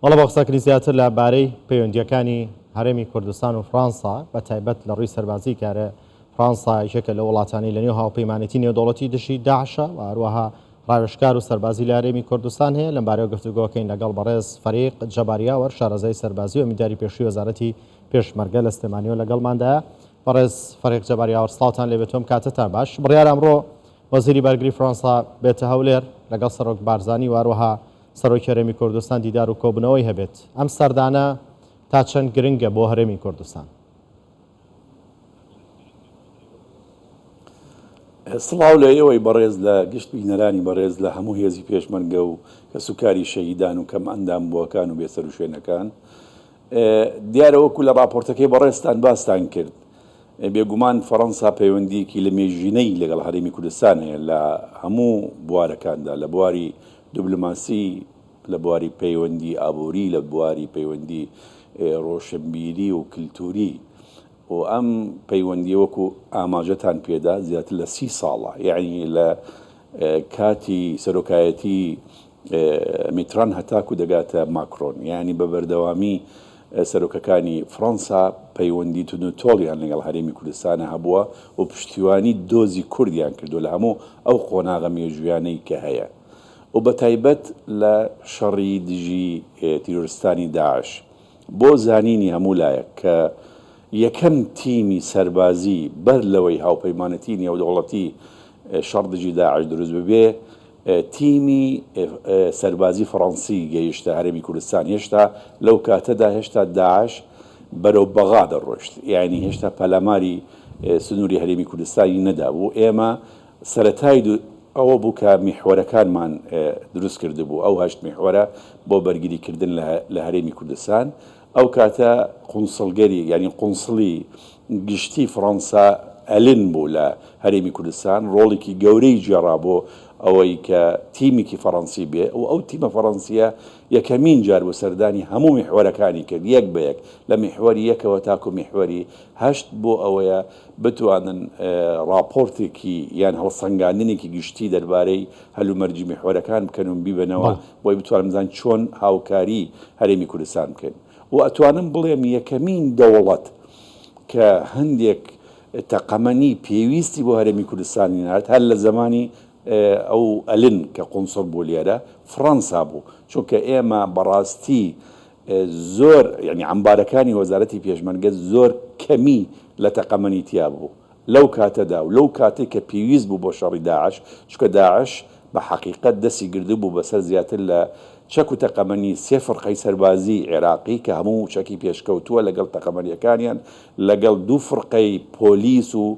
بەڵێ بۆ قسەکردنی زیاتر لە بارەی پەیوەندییەکانی هەرێمی کوردستان و فڕانسە بە تایبەت لە ڕووی سەربازی کارێ فڕانسە یەکێکە لەو وڵاتانەی لە نێو هاوپەیمانێتی نێودەوڵەتی دژی داعشە و هەروەها ڕاوێژکار و سەربازی لە هەرێمی کوردستان هەیە لەم بارەیەوە گفتوگۆکەین لەگەڵ بەڕێز فەریق جەبار یاوەر شارەزای سەربازی و ئەمینداری پێشووی وەزارەتی پێشمەرگە لە سلێمانیەوە لەگەڵماندایە بەڕێز فەریق جەبار یاوەر سڵاوتان لێ بێتۆم کاتتان باش بڕیار ئەمڕۆ وەزیری بەرگری فڕانسە بێتە هەولێر لەگەڵ سەرۆک بارزانی و هەروەها سەرۆکی هەرێمی کوردستان دیدار و کۆبوونەوەی هەبێت، ئەم سەردانە تا چەند گرنگە بۆ هەرێمی کوردستان؟ سڵاو لە ئێوەی بەڕێز لە گشت بینەرانی بەڕێز لە هەموو هێزی پێشمەرگە و کەسوکاری شەهیدان و کەمئەندام بووەکان و بێسەروشوێنەکان. دیارە وەکو لە ڕاپۆرتەکەی بەڕێزتان باستان کرد، بێگومان فەرەنسا پەیوەندییەکی لەمێژینەی لەگەڵ هەرێمی کوردستان هەیە لە هەموو بوارەکاندا، لە بواری دبلۆماسی، لە بواری پەیوەندی ئابووری، لە بواری پەیوەندی ڕۆشنبیری و کلتووری و ئەم پەیوەندییە وەکو ئاماژەتان پێدا زیاتر لە سی ساڵە، یەعنی لە کاتی سەرۆکایەتی میتران هەتاکو دەگاتە ماکرۆن یانی بە بەردەوامی سەرۆکەکانی فڕەنسا پەیوەندی توندو تۆڵیان لەگەڵ هەرێمی کوردستانا هەبووە و پشتیوانی دۆزی کوردیان کردووە لە هەموو ئەو قۆناغە مێژوویانەی کە هەیە و بە تایبەت لە شەڕی دژی تیرۆرستانی داعش. بۆ زانینی هەموو لایەک کە یەکەم تیمی سەربازی بەر لەوەی هاوپەیمانەتیی نێودەوڵەتی شەڕ دژی داعش دروست ببێ، تیمی سەربازی فەڕەنسی گەیشتە هەرێمی کوردستان، هێشتا لەو کاتەدا هێشتا داعش بەرەو بەغا دەڕۆیشت، یانی هێشتا پەلاماری سنووری هەرێمی کوردستانی نەدابوو، ئێمە سەرەتای دو ئەوە بوو کە میحوەرەکانمان دروست کردبوو، ئەو هەشت میحوەرە بۆ بەرگریکردن لە هەرێمی کوردستان، ئەو کاتە قونسڵگەری یانی قونسڵی گشتی فڕەنسا ئەلن بوو لە هەرێمی کوردستان، ڕۆڵیکی گەورەی گێڕا بۆ ئەوەی کە تیمیکی فەڕەنسی بێ و ئەو تیمە فەڕەنسیە یەکەمین جار بوو سەردانی هەموو میحوەرەکانی کرد یەک بە یەک لە میحوەری یەکەوە تاکو میحوەری هەشت بۆ ئەوەیە بتوانن ڕاپۆرتێکی یان هەڵسەنگاندنێکی گشتی دەربارەی هەلومەرجی میحوەرەکان بکەن و بیبەنەوە بۆی بتوانن بزانن چۆن هاوکاری هەرێمی کوردستان بکەین و ئەتوانم بڵێم یەکەمین دەوڵەت کە هەندێک تەقەمەنی پێویستی بۆ هەرێمی کوردستانی نارد هەر لە زەمانی ئەو ئەلن کە قونسڵ بوو لێرە فڕەنسا بوو چونکە ئێمە بەڕاستی زۆر یانی عەمبارەکانی وەزارەتی پێشمەرگە زۆر کەمی لە تەقەمەنی تیا بوو لەو کاتەدا و لەو کاتەی کە پێویست بوو بۆ شەڕی داعش چونکە داعش بە حەقیقەت دەستی گردبوو بە سەر زیاتر لە چەک و تەقەمەنی سێ فڕقەی سەربازیی عێراقی کە هەموو چەکی پێشکەوتووە لەگەڵ تەقەمەنیەکانیان لەگەڵ دوو فڕقەی پۆلیس و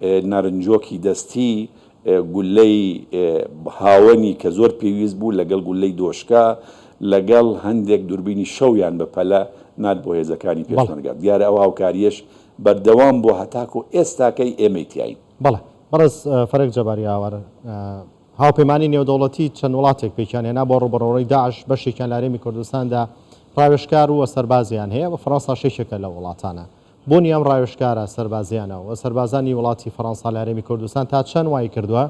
نارنجۆکی دەستی، گوللەی هاوەنی کە زۆر پێویست بوو، لەگەڵ گوللەی دۆشکە، لەگەڵ هەندێک دوربینی شەویان بە پەلە نارد بۆ هێزەکانی پێشمەرگە. دیارە ئەو هاوکارییەش بەردەوام بووە هەتاکو ئێستاکەی ئێمەی تیاین. بەڵێ. بەڕێز فەرەگ جەباری ئاوار، هاوپەیمانیی نێودەوڵەتی چەند وڵاتێک پێکیان هێنا بۆ ڕووبەڕوڕی داعش، بەشێکیان لە هەرێمی کوردستاندا ڕاوێژکار و سەربازیان هەیە و فەرەنساش یەکێکە لەو وڵاتانە. بوونی ئەم ڕاوێژکارە سەربازییانە و سەربازانی وڵاتی فەرەنسا لە هەرێمی کوردستان تا چەند وایکردووە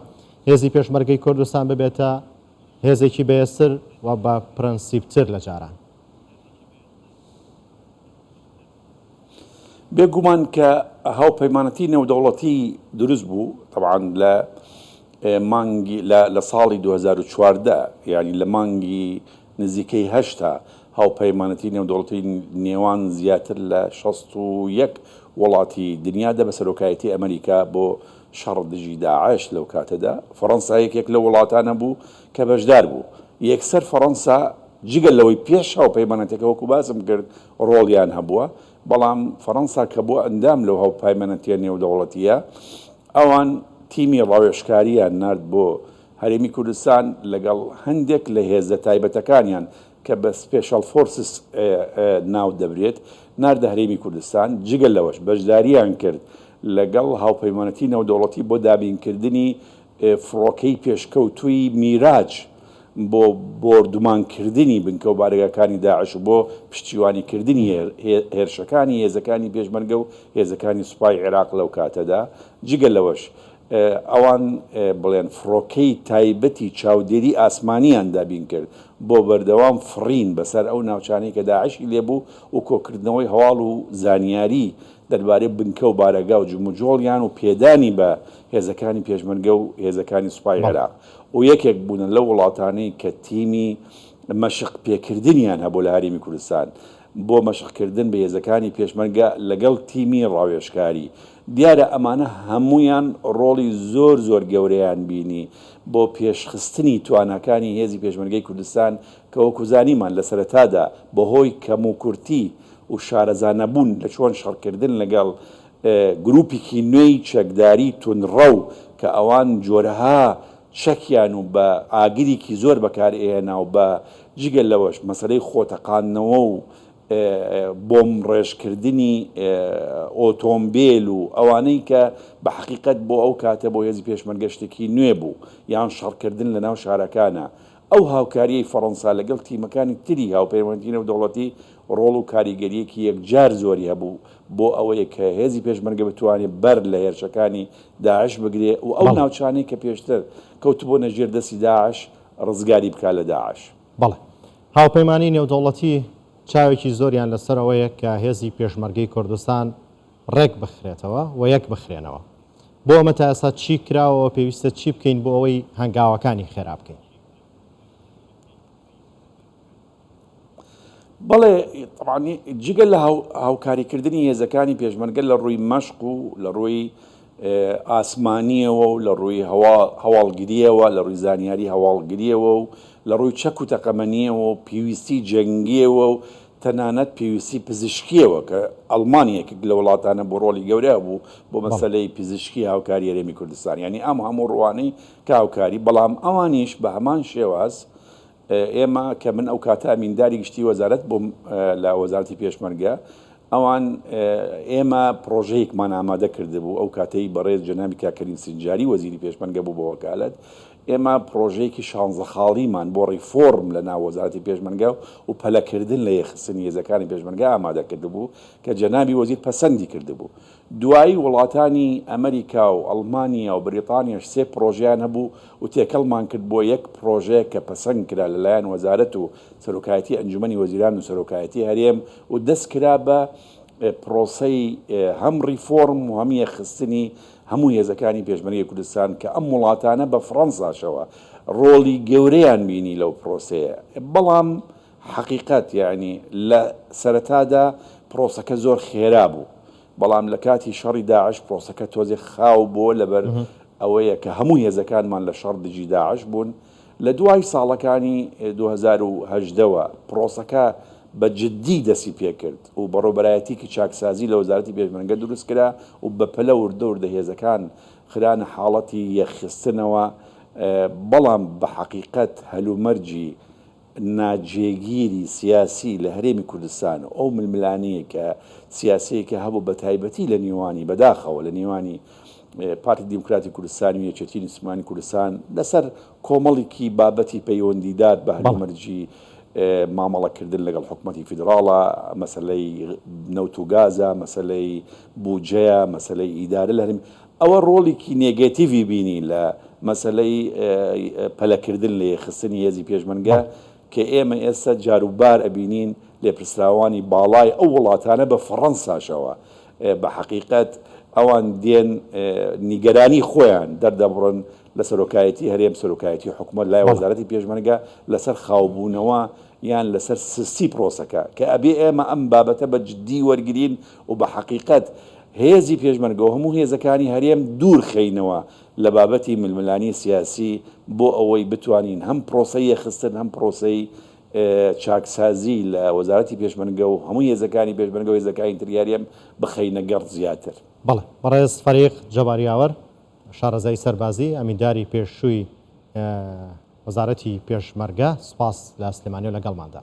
هێزی پێشمەرگەی کوردستان ببێتە هێزێکی بەهێزتر و بە پرەنسیپتر لە جاران؟ بێ گومان کە هاوپەیمانەتی نێودەوڵەتی دروست بوو تەبعەن لە مانگی لە ساڵی دوو هەزار و چواردە یانی لە مانگی نزیکەی هەشتا هاوپەیمانەتی نێودەوڵەتی نێوان زیاتر لە شەست و یەک وڵاتی دنیا دە بە سەرۆکایەتی ئەمەریکا بۆ شەڕ دژی داعش لەو کاتەدا فەڕەنسا یەکێک لەو وڵاتانە بوو کە بەشدار بوو یەکسەر فەڕەنسا جگە لەوەی پێش هاوپەیمانەتەکە وەکو باسم کرد ڕۆڵیان هەبووە بەڵام فەڕەنسا کە بووە ئەندام لەو هاوپەیمانەتیە نێودەوڵەتیە ئەوان تیمی ڕاوێژکاریان نارد بۆ هەرێمی کوردستان لەگەڵ هەندێک لە هێزە تایبەتەکانیان کە بە سپێشەڵ فۆرسس ناو دەبرێت ناردە هەرێمی کوردستان، جگە لەوەش بەشدارییان کرد لەگەڵ هاوپەیمانەتی نێودەوڵەتی بۆ دابینکردنی فڕۆکەی پێشکەوتووی میراج بۆ بۆردومانکردنی بنکە و بارەگاکانی داعش و بۆ پشتیوانیکردنی هێرشەکانی هێزەکانی پێشمەرگە و هێزەکانی سوپای عێراق لەو کاتەدا، جگە لەوەش ئەوان بڵێن فڕۆکەی تایبەتی چاودێری ئاسمانییان دابین کرد بۆ بەردەوام فڕین بەسەر ئەو ناوچانەی کە داعشی لێ بوو و کۆکردنەوەی هەواڵ و زانیاری دەربارەی بنکە و بارەگا و جموجۆڵیان و پێدانی بە هێزەکانی پێشمەرگە و هێزەکانی سوپای عێراق و یەکێک بوونە لەو وڵاتانەی کە تیمی مەشق پێکردنیان هەبوو لە هەرێمی کوردستان. بۆ مەشقکردن بە هێزەکانی پێشمەرگە لەگەڵ تیمی ڕاوێژکاری. دیارە ئەمانە هەموویان ڕۆڵی زۆر زۆر گەورەیان بینی بۆ پێشخستنی تواناکانی هێزی پێشمەرگەی کوردستان کە وەکو زانیمان لە سەرەتادا بەهۆی کەموکورتی و شارەزانەبوون لە چۆن شەڕکردن لەگەڵ گروپیکی نوێی چەکداری توندڕەو کە ئەوان جۆرەها چەکیان و بە ئاگریکی زۆر بەکار ئێنا و بە جگە لەوەش مەسەلەی خۆتەقاندنەوە و بۆمب ڕێژ کردنی ئۆتۆمبێل و ئەوانەی کە بە حەقیقەت بۆ ئەو کاتە بۆ هێزی پێشمەرگە شتێکی نوێ بوو یان شەڕ کردن لە ناو شارەکانا ئەو هاوکارییەی فەڕەنسا لەگەڵ تیمەکانی تری هاوپەیمانیی نێودەوڵەتی ڕۆڵ و کاریگەرییەکی یەکجار زۆری هەبوو بۆ ئەوەی کە هێزی پێشمەرگە بتوانێت بەر لە هێرشەکانی داعش بگرێ و ئەو بەڵێ. ناوچانەی کە پێشتر کەوتبوونە ژێر دەستی داعش ڕزگاری بکات لە داعش. بەڵێ. هاوپەیمانیی نێودەوڵەتی چاوێکی زۆریان لەسەر ئەوەیە کە هێزی پێشمەرگەی کوردستان، ڕێک بخرێتەوە و یەک بخرێنەوە. بۆ ئەمە تا ئێستا چی کراوە و پێویستە چی بکەین بۆ ئەوەی هەنگاوەکانی خێرا بکەین؟ بەڵێ تەبعەن جگە لە هاوکاریکردنی هێزەکانی پێشمەرگە لە ڕووی مەشق و لە ڕووی ئاسمانییەوە و لە ڕووی هەواڵگرییەوە، لە ڕووی زانیاری هەواڵگرییەوە و لە ڕووی چەک و تەقەمەنییەوە و پێویستیی جەنگییەوە و تەنانەت پێویستیی پزیشکییەوە کە ئەڵمانیا یەکێک لە وڵاتانە بوو ڕۆڵی گەورەی هەبوو بۆ مەسەلەی پزیشکی هاوکاری هەرێمی کوردستان یانی ئەم هەموو ڕووانەی کە هاوکاری بەڵام ئەوانیش بە هەمان شێواز ئێمە کە من ئەو کاتە ئەمینداری گشتی وەزارەت بووم لە وەزارەتی پێشمەرگە، ئەوان ئێمە پڕۆژەیەکمان ئامادە کردبوو، ئەو کاتەی بەڕێز جەنابی کاک کەریم سنجاری وەزیری پێشمەرگە بوو بە وەکالەت، ئێمە پڕۆژەیەکی شانزە خاڵیمان بۆ ڕیفۆرم لە ناو وەزارەتی پێشمەرگە و پەلەکردن لە یەخسنی هێزەکانی پێشمەرگە ئامادە کردبوو کە جەنابی وەزیر پەسەندی کردبوو. دوایی وڵاتانی ئەمریکا و ئەڵمانیا و بریتانیاش سێ پڕۆژەیان هەبوو و تێکەڵمان کرد بۆ یەک پڕۆژەیەک کە پەسەند کرا لە لایەن وەزارەت و سەرۆکایەتی ئەنجومەنی وەزیران و سەرۆکایەتی هەرێم و دەست کرا بە پڕۆسەی هەم ڕیفۆرم و هەم یەکخستنی هەموو هێزەکانی پێشمەرگەی کوردستان کە ئەم وڵاتانە بە فڕەنساشەوە ڕۆڵی گەورەیان بینی لەو پڕۆسەیە بەڵام حەقیقەت یەعنی لە سەرەتادا پرۆسەکە زۆر خێرا بوو بەڵام لە کاتی شەڕی داعش پرۆسەکە تۆزێ خاو بۆ لەبەر ئەوەیە کە هەموو هێزەکانمان لە شەڕ دژی داعش بوون لە دوای ساڵەکانی دوو هەزار و هەژدە وە پرۆسەکە بە جدی دەسی پێکرد و بەڕێوبەرایەتیکی چاکسازی لە وەزارەتی پێشمەرگە دروست کرا و بەپەلە وردە وردە هێزەکان خرانە حاڵەتی یەخستنەوە بەڵام بە حەقیقەت هەلومەرجی ناجێگیری سیاسی لە هەرێمی کوردستان و ئەو ململانێیەی کە سیاسیەی کە هەبوو بە تایبەتی لە نێوانی بەداخەوە لە نێوانی پارتی دیموکراتی کوردستان و یەکێتی نیشتمانی کوردستان لەسەر کۆمەڵیکی بابەتی پەیوەندیدار بە هەلومەرجی مامەڵەکردن لەگەڵ حکومەتی فیدراڵە مەسەلەی نەوت و گازە مەسەلەی بودجەیە مەسەلەی ئیدارە لە هەرێمی ئەوە ڕۆڵیکی نێگەتیڤی بینی لە مەسەلەی پەلەکردن لە یەکخستنی هێزی پێشمەرگە کە ئێمە ئێستا جاروبار ئەبینین لێپرسراوانی باڵای ئەو وڵاتانە بە فەڕەنساشەوە بە حەقیقەت ئەوان دێن نیگەرانی خۆیان دەردەبڕن لە سەرۆکایەتی هەرێم سەرۆکایەتی حکومت لای وەزارەتی پێشمەرگە لەسەر خاوبوونەوە یان لەسەر سستی پرۆسەکە کە ئەبێ ئێمە ئەم بابەتە بە جددی وەرگین و بە حەقیقەت هێزی پێشمەرگەو هەموو هێزەکانی هەرێم دوور خەینەوە لە بابەتی ململانی سیاسی بۆ ئەوەی بتوانین هەم پرۆسەی یەخستن هەم پرۆسەی چاکسازی لە وەزارەتی پێشمەرگەو هەموو هێزەکانی پێشمەرگەو هێزەکانی تری هەرێم بخەینە گەڕ زیاتر. بەڵێ بەڕێز فەریق جەبار یاوەر شارەزای سەربازی ئەمینداری پێشووی وەزارەتی پێشمەرگە سوپاس لە سلێمانیەوە لەگەڵماندا.